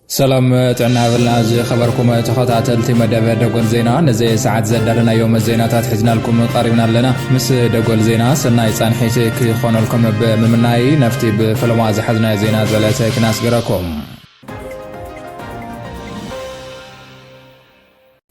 ሰላም ጥዕና ብልና ዝኸበርኩም ተኸታተልቲ መደበ ደጎል ዜና ነዘ ሰዓት ዘዳለናዮም ዜናታት ሕዝናልኩም ቐሪብና ኣለና ምስ ደጎል ዜና ሰናይ ፃንሒት ክኾነልኩም ብምምናይ ነፍቲ ብፈለማ ዝሓዝናዮ ዜና ዘለተ ክናስገረኩም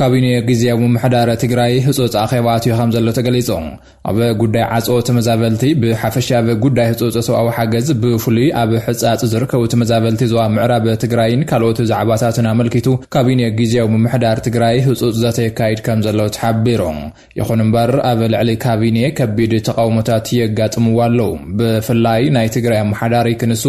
ካቢኔ ግዝያዊ ምምሕዳር ትግራይ ህፁፅ ኣኼባ ኣትዩ ከም ዘሎ ተገሊፁ። ኣብ ጉዳይ ዓፅኦ ተመዛበልቲ ብሓፈሻ ኣብ ጉዳይ ህፁፅ ሰብኣዊ ሓገዝ ብፍሉይ ኣብ ሕፃፅ ዝርከቡ ተመዛበልቲ ዞባ ምዕራብ ትግራይን ካልኦት ዛዕባታትን ኣመልኪቱ ካቢኔ ግዝያዊ ምምሕዳር ትግራይ ህፁፅ ዘተ የካይድ ከም ዘሎ ተሓቢሩ። ይኹን እምበር ኣብ ልዕሊ ካቢኔ ከቢድ ተቓውሞታት የጋጥምዎ ኣለዉ። ብፍላይ ናይ ትግራይ ኣመሓዳሪ ክንሱ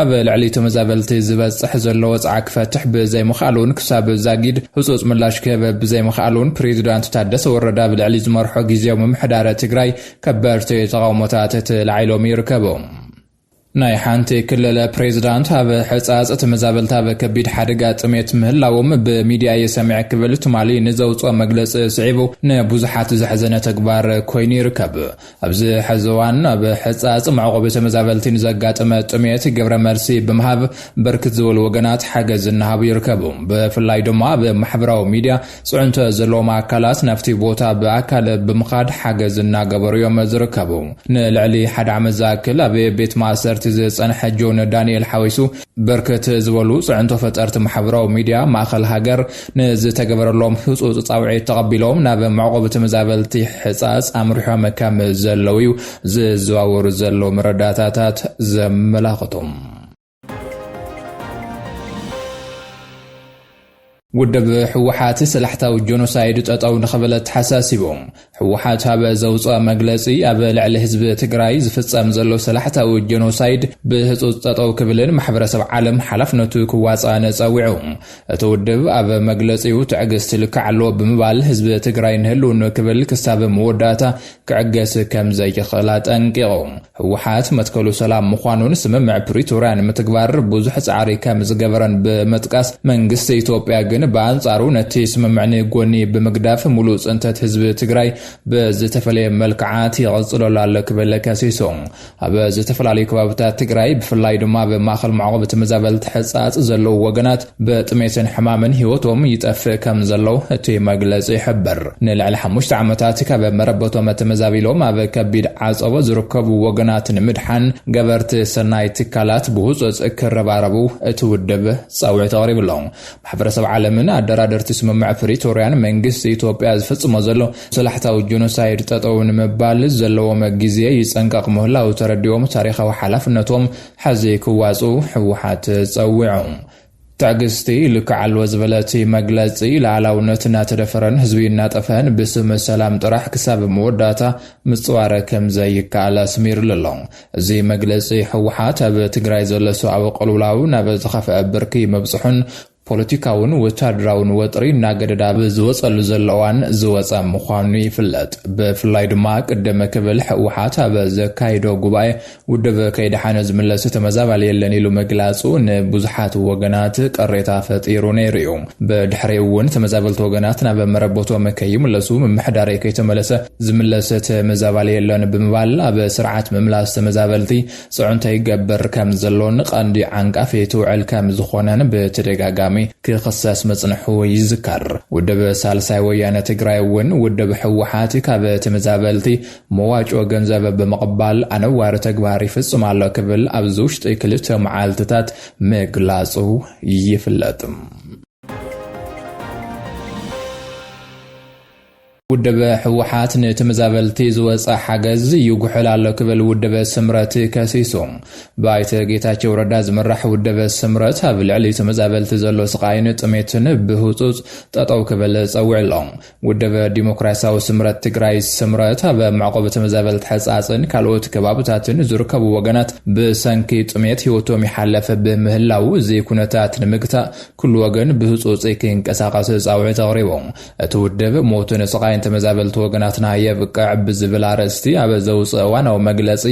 ኣብ ልዕሊ ተመዛበልቲ ዝበጽሕ ዘሎ ወጽዓ ክፈትሕ ብዘይምኽኣሉን ክሳብ ዛጊድ ህጹጽ ምላሽ ክህብ ብዘይምኽኣሉን ፕሬዚዳንት ታደሰ ወረደ ኣብ ልዕሊ ዝመርሖ ግዜያዊ ምምሕዳረ ትግራይ ከበድቲ ተቓውሞታት ተላዒሎም ይርከቡ። ናይ ሓንቲ ክልል ፕሬዚዳንት ኣብ ሕፃፅ ተመዛበልቲ ኣብ ከቢድ ሓደጋ ጥሜት ምህላዎም ብሚድያ እየ ሰሚዐ ክብል ትማሊ ንዘውፅኦ መግለፂ ስዒቡ ንብዙሓት ዘሕዘነ ተግባር ኮይኑ ይርከብ። ኣብዚ ሕዚ እዋን ኣብ ሕፃፅ መዕቆቢ ተመዛበልቲ ንዘጋጠመ ጥሜት ግብረ መልሲ ብምሃብ ብርክት ዝበሉ ወገናት ሓገዝ እናሃቡ ይርከቡ። ብፍላይ ድማ ኣብ ማሕበራዊ ሚድያ ፅዕንቶ ዘለዎም ኣካላት ናብቲ ቦታ ብኣካል ብምኻድ ሓገዝ እናገበሩ እዮም ዝርከቡ። ንልዕሊ ሓደ ዓመት ዝኣክል ኣብ ቤት ማእሰርቲ ዝፀንሐ ጆን ዳኒኤል ሓዊሱ ብርክት ዝበሉ ፅዕንቶ ፈጠርቲ ማሕበራዊ ሚዲያ ማእኸል ሃገር ንዝተገበረሎም ህፁፅ ፃውዒት ተቐቢሎም ናብ መዕቖቢ ተመዛበልቲ ሕፃፅ ኣምሪሖም ከም ዘለው እዩ ዝዘዋወሩ ዘለው መረዳእታታት ዘመላኽቱ። ውድብ ህወሓት ሰላሕታዊ ጆኖሳይድ ጠጠው ንኽብል ኣተሓሳሲቡ ህወሓት ሃበ ዘውፅኦ መግለፂ ኣብ ልዕሊ ህዝቢ ትግራይ ዝፍፀም ዘሎ ሰላሕታዊ ጆኖሳይድ ብህፁፅ ጠጠው ክብልን ማሕበረሰብ ዓለም ሓላፍነቱ ክዋፅኣን ፀዊዑ እቲ ውድብ ኣብ መግለፂኡ ትዕግስቲ ልክዕ ኣሎ ብምባል ህዝቢ ትግራይ ንህልውኑ ክብል ክሳብ መወዳእታ ክዕገስ ከም ዘይኽእል ኣጠንቂቑ። ህወሓት መትከሉ ሰላም ምዃኑን ስምምዕ ፕሪቶርያ ንምትግባር ብዙሕ ጻዕሪ ከም ዝገበረን ብምጥቃስ፣ መንግስቲ ኢትዮጵያ ግን ብኣንጻሩ ነቲ ስምምዕ ንጎኒ ብምግዳፍ ሙሉእ ፅንተት ህዝቢ ትግራይ ብዝተፈለየ መልክዓት ይቕፅለሉ ኣሎ ክብል ከሲሱ። ኣብ ዝተፈላለዩ ከባብታት ትግራይ ብፍላይ ድማ ኣብ ማእኸል መዕቆቢ ተመዛበልቲ ሕፃፅ ዘለዉ ወገናት ብጥሜትን ሕማምን ህይወቶም ይጠፍእ ከም ዘለው እቲ መግለፂ ይሕብር። ንልዕሊ ሓሙሽተ ዓመታት ካብ መረበቶም ተመዛቢሎም ኣብ ከቢድ ዓፀቦ ዝርከቡ ወገናት ንምድሓን ገበርቲ ሰናይ ትካላት ብህፁፅ ክረባረቡ እቲ ውድብ ፃውዒት ኣቕሪቡ ኣሎ። ማሕበረሰብ ዓለምን ኣደራደርቲ ስምምዕ ፕሪቶርያን መንግስቲ ኢትዮጵያ ዝፍፅሞ ዘሎ ሰላሕታዊ ጆኖሳይድ ጠጠው ንምባል ዘለዎም ግዜ ይፀንቀቕ ምህላው ተረዲኦም ታሪኻዊ ሓላፍነቶም ሐዚ ክዋፅኡ ህወሓት ፀዊዑ። ትዕግስቲ ልክዕ ኣለዎ ዝበለ እቲ መግለፂ፣ ልኣላውነት እናተደፈረን ህዝቢ እናጠፍሀን ብስም ሰላም ጥራሕ ክሳብ መወዳእታ ምፅዋር ከምዘይከኣል ኣስሚርሉ ኣሎ። እዚ መግለፂ ህወሓት ኣብ ትግራይ ዘሎ ሰብኣዊ ቅልውላው ናብ ዝኸፍኣ ብርኪ ምብፅሑን፣ ፖለቲካውን ወታደራውን ወጥሪ እናገደደ ኣብ ዝወፀሉ ዘሎ እዋን ዝወፀ ምዃኑ ይፍለጥ። ብፍላይ ድማ ቅድም ክብል ህወሓት ኣብ ዘካይዶ ጉባኤ ውድብ ከይደሓነ ዝምለስ ተመዛባሊ የለን ኢሉ ምግላፁ ንብዙሓት ወገናት ቅሬታ ፈጢሩ ነይሩ እዩ። ብድሕሪኡ እውን ተመዛበልቲ ወገናት ናብ መረበቶም ከይምለሱ ምምሕዳረይ ከይተመለሰ ዝምለስ ተመዛባሊ የለን ብምባል ኣብ ስርዓት ምምላስ ተመዛበልቲ ፅዕንቶ ይገብር ከም ዘሎን ቐንዲ ዓንቃፊት ውዕል ከም ዝኾነን ብተደጋጋሚ ክኽሰስ ምፅንሑ ይዝከር። ውድብ ሳልሳይ ወያነ ትግራይ እውን ውድብ ህወሓት ካብ ተመዛበልቲ መዋጮ ገንዘብ ብምቕባል ኣነዋሪ ተግባር ይፍፅም ኣሎ ክብል ኣብዚ ውሽጢ ክልተ መዓልትታት ምግላፁ ይፍለጥ። ውድብ ህወሓት ንተመዛበልቲ ዝወፀ ሓገዝ ይጉሕል ኣሎ ክብል ውድብ ስምረት ከሲሱ። ብኣይተ ጌታቸው ረዳ ዝምራሕ ውድብ ስምረት ኣብ ልዕሊ ተመዛበልቲ ዘሎ ስቓይን ጥሜትን ብህፁፅ ጠጠው ክብል ፀዊዑ ኣሎ። ውድብ ዲሞክራሲያዊ ስምረት ትግራይ፣ ስምረት፣ ኣብ መዕቆቢ ተመዛበልቲ ሕፃፅን ካልኦት ከባብታትን ዝርከቡ ወገናት ብሰንኪ ጥሜት ህይወቶም ይሓለፍ ብምህላው እዚ ኩነታት ንምግታእ ኩሉ ወገን ብህፁፅ ክንቀሳቐስ ፃውዒት ኣቕሪቡ። እቲ ውድብ፣ ሞትን ስቓይን ተመዛበልቲ ወገናትና የብቅዕ ብዝብል ኣርእስቲ ኣብ ዘውጽኦ እዋናዊ መግለጺ፣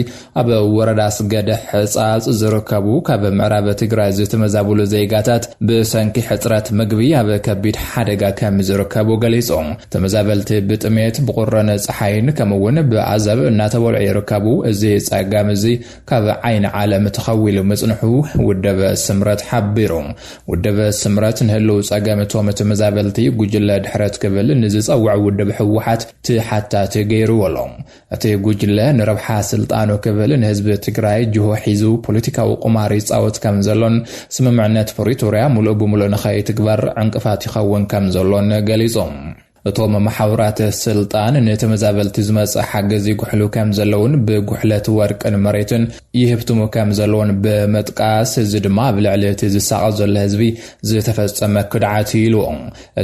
ኣብ ወረዳ ኣስገደ ሕጻጽ ዝርከቡ ካብ ምዕራብ ትግራይ ዝተመዛበሉ ዜጋታት ብሰንኪ ሕጽረት ምግቢ ኣብ ከቢድ ሓደጋ ከምዝርከቡ ገሊጹ። ተመዛበልቲ ብጥሜት፣ ብቑርን ጸሓይን ከምኡ'ውን ብኣዘብ እናተበልዑ ይርከቡ። እዚ ጸገም እዚ ካብ ዓይኒ ዓለም ተኸዊሉ ምጽንሑ ውድብ ስምረት ሓቢሩ። ውድብ ስምረት ንህልው ጸገም እቶም ተመዛበልቲ ጉጅለ ድሕረት ክብል ንዝጸውዖ ውድብ ህወሓት ተሓታቲ ገይሩዎ ኣሎ። እቲ ጉጅለ ንረብሓ ስልጣኑ ክብል ንህዝቢ ትግራይ ጅሆ ሒዙ ፖለቲካዊ ቁማር ይጻወት ከም ዘሎን ስምምዕነት ፕሪቶርያ ምሉእ ብምሉእ ንኸይትግበር ዕንቅፋት ይኸውን ከም ዘሎን ገሊጹ። እቶም መሓውራት ስልጣን ንተመዛበልቲ ዝመጽእ ሓገዝ ይጉሕሉ ከምዘለውን ብጉሕለት ወርቅን መሬትን ይህብትሙ ከምዘለውን ብምጥቃስ እዚ ድማ ኣብ ልዕሊ እቲ ዝሳቐ ዘሎ ህዝቢ ዝተፈጸመ ክድዓት እዩ ኢሉ።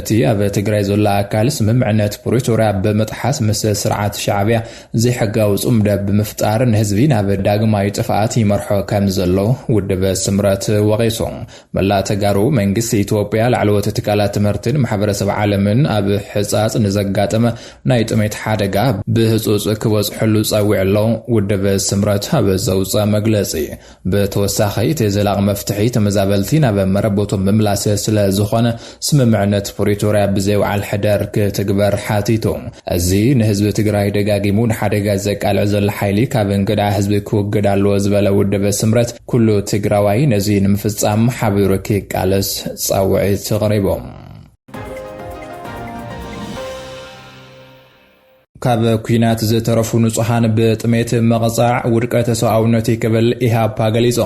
እቲ ኣብ ትግራይ ዘሎ ኣካል ስምምዕነት ፕሪቶርያ ብምጥሓስ ምስ ስርዓት ሻዕብያ ዘይሕጋዊ ጽምዶ ብምፍጣር ንህዝቢ ናብ ዳግማይ ጥፍኣት ይመርሖ ከምዘሎ ውድብ ስምረት ወቒሱ። መላእ ተጋሩ መንግስቲ ኢትዮጵያ ላዕለዎት ትካላት ትምህርትን ማሕበረሰብ ዓለምን ኣብ ሕፃፅ ንዘጋጠመ ናይ ጥሜት ሓደጋ ብህፁፅ ክበፅሐሉ ፀዊዑ ኣሎ ውድብ ስምረት ኣብ ዘውፀ መግለፂ ብተወሳኺ እቲ ዘላቕ መፍትሒ ተመዛበልቲ ናብ መረበቶም ምምላስ ስለዝኾነ ስምምዕነት ፕሪቶርያ ብዘይ ውዓል ሕደር ክትግበር ሓቲቱ። እዚ ንህዝቢ ትግራይ ደጋጊሙ ንሓደጋ ዘቃልዕ ዘሎ ሓይሊ ካብ እንግዳ ህዝቢ ክውግድ ኣለዎ ዝበለ ውድብ ስምረት ኩሉ ትግራዋይ ነዚ ንምፍፃም ሓቢሩ ክቃለስ ፃውዒት ኣቕሪቡ። ካብ ኩናት ዝተረፉ ንጹሃን ብጥሜት መቕጻዕ ውድቀተ ሰብኣውነት'ዩ ክብል ኢህኣፓ ገሊጹ።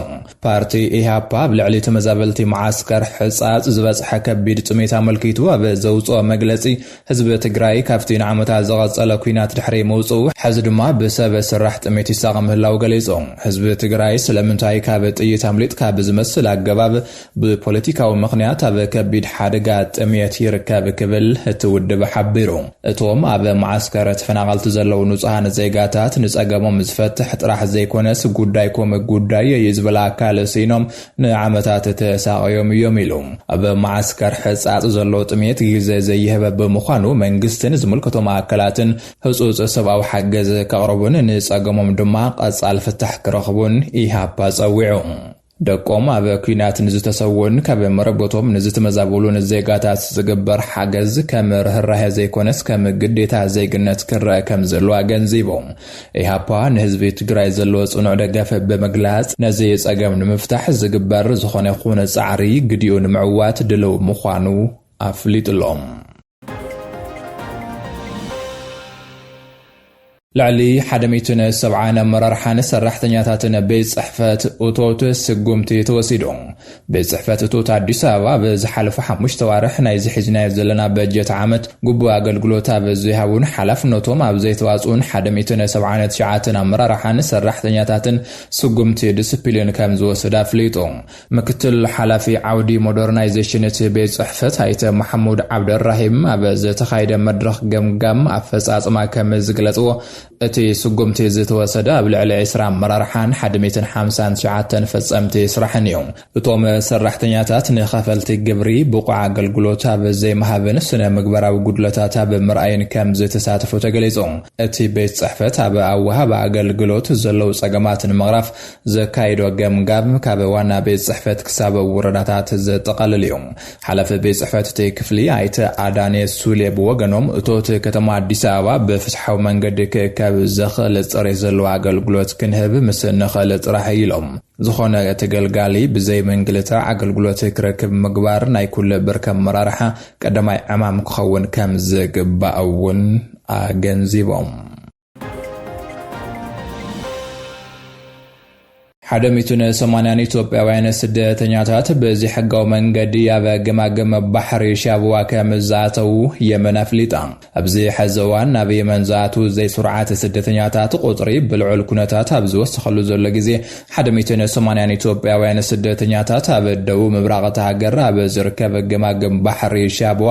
ፓርቲ ኢህኣፓ ኣብ ልዕሊ ተመዛበልቲ መዓስከር ሕጻጽ ዝበጽሐ ከቢድ ጥሜት ኣመልኪቱ ኣብ ዘውጽኦ መግለጺ፣ ህዝቢ ትግራይ ካብቲ ንዓመታት ዝቐጸለ ኩናት ድሕሪ ምውጽኡ ሕዚ ድማ ብሰብ ስራሕ ጥሜት ይሳቐ ምህላዉ ገሊጹ። ህዝቢ ትግራይ ስለምንታይ ካብ ጥይት ኣምሊጥካ ብዝመስል ኣገባብ ብፖለቲካዊ ምኽንያት ኣብ ከቢድ ሓደጋ ጥምየት ይርከብ ክብል እቲ ውድብ ሓቢሩ። እቶም ኣብ መዓስከር ተፈናቐልቲ ዘለዉ ንፁሃን ዜጋታት ንፀገሞም ዝፈትሕ ጥራሕ ዘይኮነስ ጉዳይኩም ጉዳየይ እዩ ዝብል ኣካል ስኢኖም ንዓመታት ተሳቐዮም እዮም ኢሉ። ኣብ መዓስከር ሕፃፅ ዘሎ ጥምየት ግዘ ዘይህብ ብምዃኑ መንግስትን ዝምልከቶም ኣካላትን ህፁፅ ሰብኣዊ ሓገዝ ከቕርቡን ንፀገሞም ድማ ቐፃሊ ፍታሕ ክረኽቡን ኢህኣፓ ፀዊዑ። ደቆም ኣብ ኲናት ንዝተሰውኡን ካብ መረበቶም ንዝትመዛበሉን ዜጋታት ዝግበር ሓገዝ ከም ርህራሄ ዘይኮነስ ከም ግዴታ ዜግነት ክረአ ከም ዘለዎ ኣገንዚቦም። ኢህኣፓ ንህዝቢ ትግራይ ዘለዎ ፅኑዕ ደገፍ ብምግላፅ ነዚ ፀገም ንምፍታሕ ዝግበር ዝኾነ ይኹን ፃዕሪ ግዲኡ ንምዕዋት ድልው ምዃኑ ኣፍሊጡሎም። ልዕሊ ሓደ ሚእትን ሰብዓን ኣመራርሓን ሰራሕተኛታትን ቤት ፅሕፈት እቶት ስጉምቲ ተወሲዱ ቤት ፅሕፈት እቶት ኣዲስ ኣበባ ኣብ ዝሓለፉ ሓሙሽተ ዋርሕ ናይዚ ሒዝናዮ ዘለና በጀት ዓመት ግቡእ ኣገልግሎት ኣብ ዘይሃቡን ሓላፍነቶም ኣብ ዘይተዋፅኡን ሓደ ሚእትን ሰብዓን ትሽዓትን ኣመራርሓን ሰራሕተኛታትን ስጉምቲ ዲስፕሊን ከም ዝወሰደ ኣፍሊጡ ምክትል ሓላፊ ዓውዲ ሞደርናይዜሽን እቲ ቤት ፅሕፈት ኣይተ መሓሙድ ዓብደልራሂም ኣብ ዝተኻይደ መድረኽ ገምጋም ኣፈፃፅማ ከም ዝግለፅዎ እቲ ስጉምቲ ዝተወሰደ ኣብ ልዕሊ ዕስራ ኣመራርሓን ሓድ ሚእትን ሓምሳን ትሽዓተን ፈፀምቲ ስራሕን እዩ። እቶም ሰራሕተኛታት ንኸፈልቲ ግብሪ ብቑዕ ኣገልግሎት ኣብ ዘይምሃብን ስነ ምግባራዊ ጉድለታት ኣብ ምርኣይን ከም ዝተሳተፉ ተገሊፁ። እቲ ቤት ፅሕፈት ኣብ ኣወሃህባ ኣገልግሎት ዘለዉ ፀገማት ንምቕራፍ ዘካይዶ ገምጋም ካብ ዋና ቤት ጽሕፈት ክሳብ ውረዳታት ዘጠቓልል እዩ። ሓላፊ ቤት ጽሕፈት እቲ ክፍሊ ኣይተ ኣዳኔ ሱሌ ብወገኖም እቶት ከተማ ኣዲስ ኣበባ ብፍትሓዊ መንገዲ ክእከብ ዘኽእል ፅሬት ዘለዎ ኣገልግሎት ክንህብ ምስ ንኽእል ጥራሕ እዩ ኢሎም። ዝኾነ ተገልጋሊ ብዘይ ምንግልታዕ ኣገልግሎት ክረክብ ምግባር ናይ ኩሉ ብርኪ ኣመራርሓ ቀዳማይ ዕማም ክኸውን ከምዝግባእ እውን ኣገንዚቦም። ሓደ ሚእትን ሰማንያን ኢትዮጵያውያን ስደተኛታት ብዘይሕጋዊ መንገዲ ኣብ ገማግም ባሕሪ ሻብዋ ከም ዝኣተዉ የመን ኣፍሊጣ። ኣብዚ ሕዚ እዋን ናብ የመን ዝኣትዉ ዘይስሩዓት ስደተኛታት ቁፅሪ ብልዑል ኩነታት ኣብ ዝወሰኸሉ ዘሎ ግዜ ሓደ ሚእትን ሰማንያን ኢትዮጵያውያን ስደተኛታት ኣብ ደቡብ ምብራቕ እታ ሃገር ኣብ ዝርከብ ገማግም ባሕሪ ሻብዋ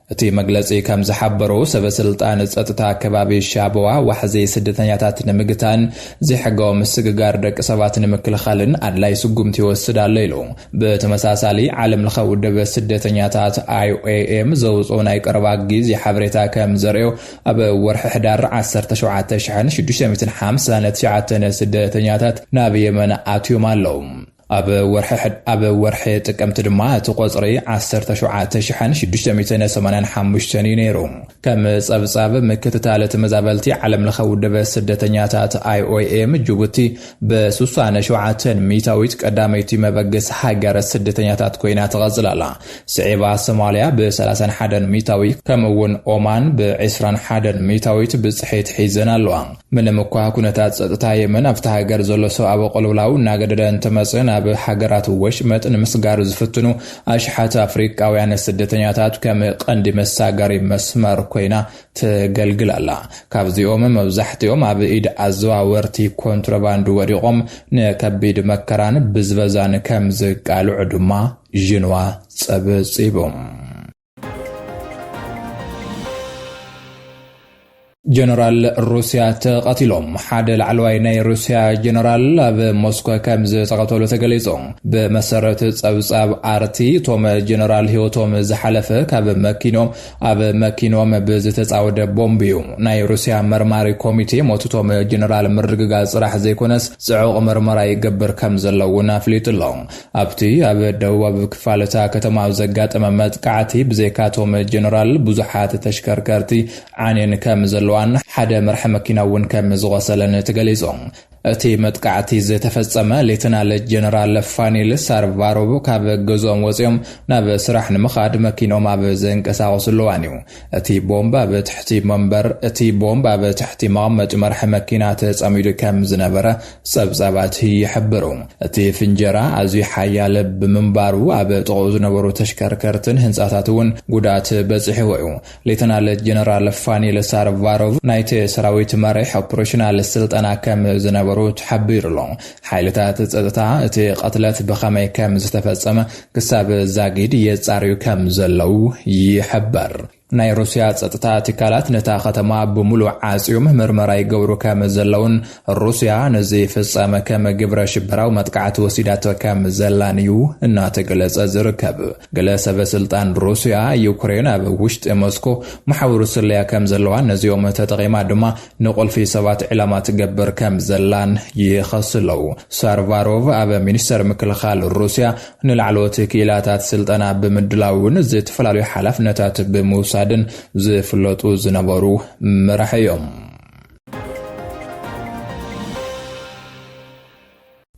እቲ መግለጺ ከም ዝሓበሮ፣ ሰበስልጣን ጸጥታ ከባቢ ሻበዋ፣ ዋሕዚ ስደተኛታት ንምግታን ዘይሕጋዊ ምስግጋር ደቂ ሰባት ንምክልኻልን ኣድላይ ስጉምቲ ይወስድ ኣሎ ኢሉ። ብተመሳሳሊ፣ ዓለምለኸ ውድብ ስደተኛታት፣ IOM፣ ዘውጽኦ ናይ ቀረባ ግዜ ሓበሬታ ከም ዘርእዮ፣ ኣብ ወርሒ ሕዳር ዓሰርተ ሸውዓተ ሽሕን ሽዱሽተ ሚእትን ሓምሳን ትሽዓተን ስደተኛታት ናብ የመን ኣትዮም ኣለዉ። ኣብ ወርሒ ጥቅምቲ ድማ እቲ ቖጽሪ ዓሰርተ ሸውዓተ ሽሕን ሽዱሽተ ሚእትን ሰማንያን ሓሙሽተን እዩ ነይሩ። ከም ጸብጻብ ምክትታል ተመዛበልቲ ዓለምለኸ ውድብ ስደተኛታት IOM ጅቡቲ ብሱሳን ሸውዓተን ሚእታዊት ቀዳመይቲ መበግሲ ሃገር ስደተኛታት ኮይና ትቐጽል ኣላ። ስዒባ ሶማልያ ብሰላሳን ሓደን ሚታዊ ከምኡ እውን ኦማን ብዒስራን ሓደን ሚታዊት ብፅሒት ሒዘን ኣለዋ። ምንም እኳ ኩነታት ፀጥታ የመን ኣብታ ሃገር ዘሎ ሰብኣዊ ቅልውላው እናገደደ እንተመፀ ናብ ሃገራት ወሽመጥ ንምስጋር ዝፍትኑ ኣሽሓት ኣፍሪቃውያን ስደተኛታት ከም ቀንዲ መሳገሪ መስመር ኮይና ተገልግል ኣላ። ካብዚኦም መብዛሕትኦም ኣብ ኢድ ኣዘዋወርቲ ኮንትሮባንድ ወዲቖም ንከቢድ መከራን ብዝበዛን ከም ዝቃልዑ ድማ ዢንዋ ጸብጺቡ። ጀነራል ሩስያ ተቐቲሎም ሓደ ላዕለዋይ ናይ ሩስያ ጀነራል ኣብ ሞስኮ ከም ዝተቐተሉ ተገሊጹ ብመሰረት ጸብጻብ ኣርቲ እቶም ጀነራል ህይወቶም ዝሓለፈ ካብ መኪኖም ኣብ መኪኖም ብዝተጻወደ ቦምብ እዩ ናይ ሩስያ መርማሪ ኮሚቴ ሞትቶም ጀነራል ምርግጋጽ ጽራሕ ዘይኮነስ ጽዑቕ ምርመራ ይገብር ከም ዘሎ እውን ኣፍሊጡ ኣሎ ኣብቲ ኣብ ደቡባዊ ክፋል እታ ከተማ ኣብ ዘጋጠመ መጥቃዕቲ፣ ብዘይካ እቶም ጀነራል፣ ብዙሓት ተሽከርከርቲ ዓንየን ከም ዘለዋን ሓደ መራሒ መኪና እውን ከም ዝቖሰለን ተገሊጹ። እቲ መጥቃዕቲ ዝተፈጸመ፣ ሌተናል ጀነራል ፋኒል ሳርቫሮቭ ካብ ገዝኦም ወጺኦም ናብ ስራሕ ንምኻድ መኪንኦም ኣብ ዘንቀሳቕስሉ እዋን እዩ። እቲ ቦምብ ኣብ ትሕቲ መንበር እቲ ቦምብ ኣብ ትሕቲ መቐመጢ መርሒ መኪና ተጸሚዱ ከም ዝነበረ ጸብጻባት ይሕብሩ። እቲ ፍንጀራ ኣዝዩ ሓያል ብምንባሩ ኣብ ጥቕኡ ዝነበሩ ተሽከርከርትን ህንጻታት እውን ጉድኣት በጺሕዎ እዩ። ሌተናል ጀነራል ፋኒል ሳርቫሮቭ ናይቲ ሰራዊት መሪሕ ኦፕሬሽናል ስልጠና ከም ዝነበሩ ተሓቢሩ'ሎ። ሓይልታት ጸጥታ እቲ ቕትለት ብኸመይ ከም ዝተፈጸመ ክሳብ ዛጊድ የጻርዩ ከም ዘለዉ ይሕበር። ናይ ሩስያ ጸጥታ ትካላት ነታ ከተማ ብምሉእ ዓጽዮም ምርመራ ይገብሩ ከም ዘለዉን ሩስያ ነዚ ፍጻመ ከም ግብረ ሽበራዊ መጥቃዕቲ ወሲዳቶ ከም ዘላን እዩ እናተገለጸ ዝርከብ። ገለ ሰበ ስልጣን ሩስያ፣ ዩክሬን ኣብ ውሽጢ ሞስኮ መሓውር ስለያ ከም ዘለዋን ነዚኦም ተጠቒማ ድማ ንቁልፊ ሰባት ዕላማ ትገብር ከም ዘላን ይኸሱ ኣለዉ። ሳርቫሮቭ ኣብ ሚኒስተር ምክልኻል ሩስያ ንላዕለዎት ክኢላታት ስልጠና ብምድላውን ዝተፈላለዩ ሓላፍነታት ብምውሳድን ዝፍለጡ ዝነበሩ መራሒ እዮም።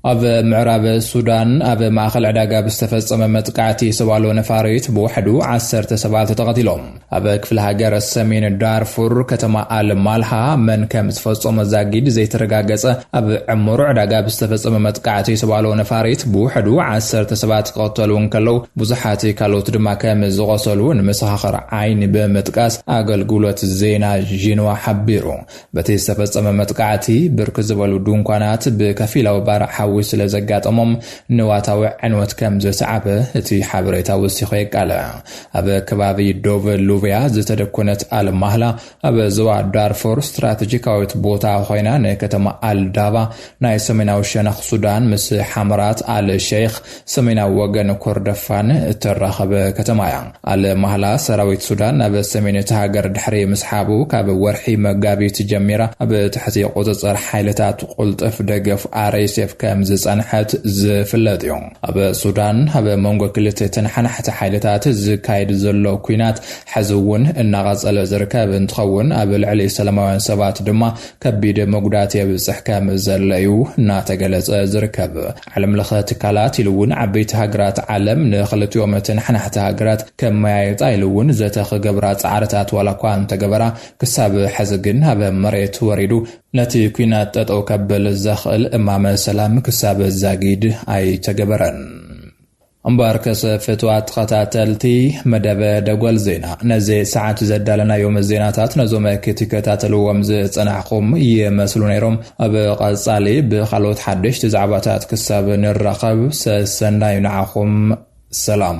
ኣብ ምዕራብ ሱዳን ኣብ ማእኸል ዕዳጋ ብዝተፈጸመ መጥቃዕቲ ሰብ ኣልቦ ነፋሪት ብውሕዱ ዓሰርተ ሰባት ተቐቲሎም። ኣብ ክፍለ ሃገር ሰሜን ዳርፉር ከተማ ኣል ማልሃ መን ከም ዝፈጸሞ ዛጊድ ዘይተረጋገጸ ኣብ ዕሙር ዕዳጋ ብዝተፈጸመ መጥቃዕቲ ሰብ ኣልቦ ነፋሪት ብውሕዱ ዓሰርተ ሰባት ክቐተሉ እንከለው ብዙሓት ካልኦት ድማ ከም ዝቖሰሉ ንመሰኻኽር ዓይኒ ብምጥቃስ ኣገልግሎት ዜና ዢንዋ ሓቢሩ። በቲ ዝተፈጸመ መጥቃዕቲ ብርክት ዝበሉ ድንኳናት ብከፊላዊ ባርዕ ሓዊ ስለ ዘጋጠሞም ንዋታዊ ዕንወት ከም ዘስዓበ እቲ ሓበሬታ ወሲኹ የቃልዕ። ኣብ ከባቢ ዶቭ ሉቭያ ዝተደኮነት ኣልማህላ ኣብ ዞባ ዳርፎር ስትራተጂካዊት ቦታ ኮይና ንከተማ ኣልዳባ ናይ ሰሜናዊ ሸነኽ ሱዳን ምስ ሓመራት ኣል ሸይኽ፣ ሰሜናዊ ወገን ኮርደፋን፣ እተራኽብ ከተማ እያ። ኣል ማህላ ሰራዊት ሱዳን ናብ ሰሜን እታ ሃገር ድሕሪ ምስሓቡ፣ ካብ ወርሒ መጋቢት ጀሚራ ኣብ ትሕቲ ቁጽጽር ሓይልታት ቁልጥፍ ደገፍ RSF ከም ዝጸንሐት ዝፍለጥ እዩ። ኣብ ሱዳን ኣብ መንጎ ክልተ ተነሓናሕቲ ሓይልታት ዝካየድ ዘሎ ኲናት ሕዚ እውን እናቐጸለ ዝርከብ እንትኸውን፣ ኣብ ልዕሊ ሰላማውያን ሰባት ድማ ከቢድ መጉዳእቲ የብፅሕ ከም ዘሎ እዩ እናተገለፀ ዝርከብ። ዓለም ለኸ ትካላት ኢሉ እውን ዓበይቲ ሃገራት ዓለም ንክልቲኦም ተነሓናሕቲ ሃገራት ከመያየጣ ኢሉ እውን ዘተ ክገብራ ፃዕርታት ዋላ እኳ እንተገበራ ክሳብ ሕዚ ግን ኣብ መሬት ወሪዱ ነቲ ኲናት ጠጠው ከብል ዘኽእል እማመ ሰላም ክሳብ ዛጊድ ኣይተገበረን። እምበኣርከሰ ፍትዋት ተኸታተልቲ መደብ ደጎል ዜና ነዚ ሰዓት ዘዳለናዮም ዜናታት ነዞም ክትከታተልዎም ዝጸናሕኹም ይመስሉ ነይሮም። ኣብ ቐጻሊ ብኻልኦት ሓደሽቲ ዛዕባታት ክሳብ ንራኸብ ሰሰናዩ ንዓኹም። ሰላም።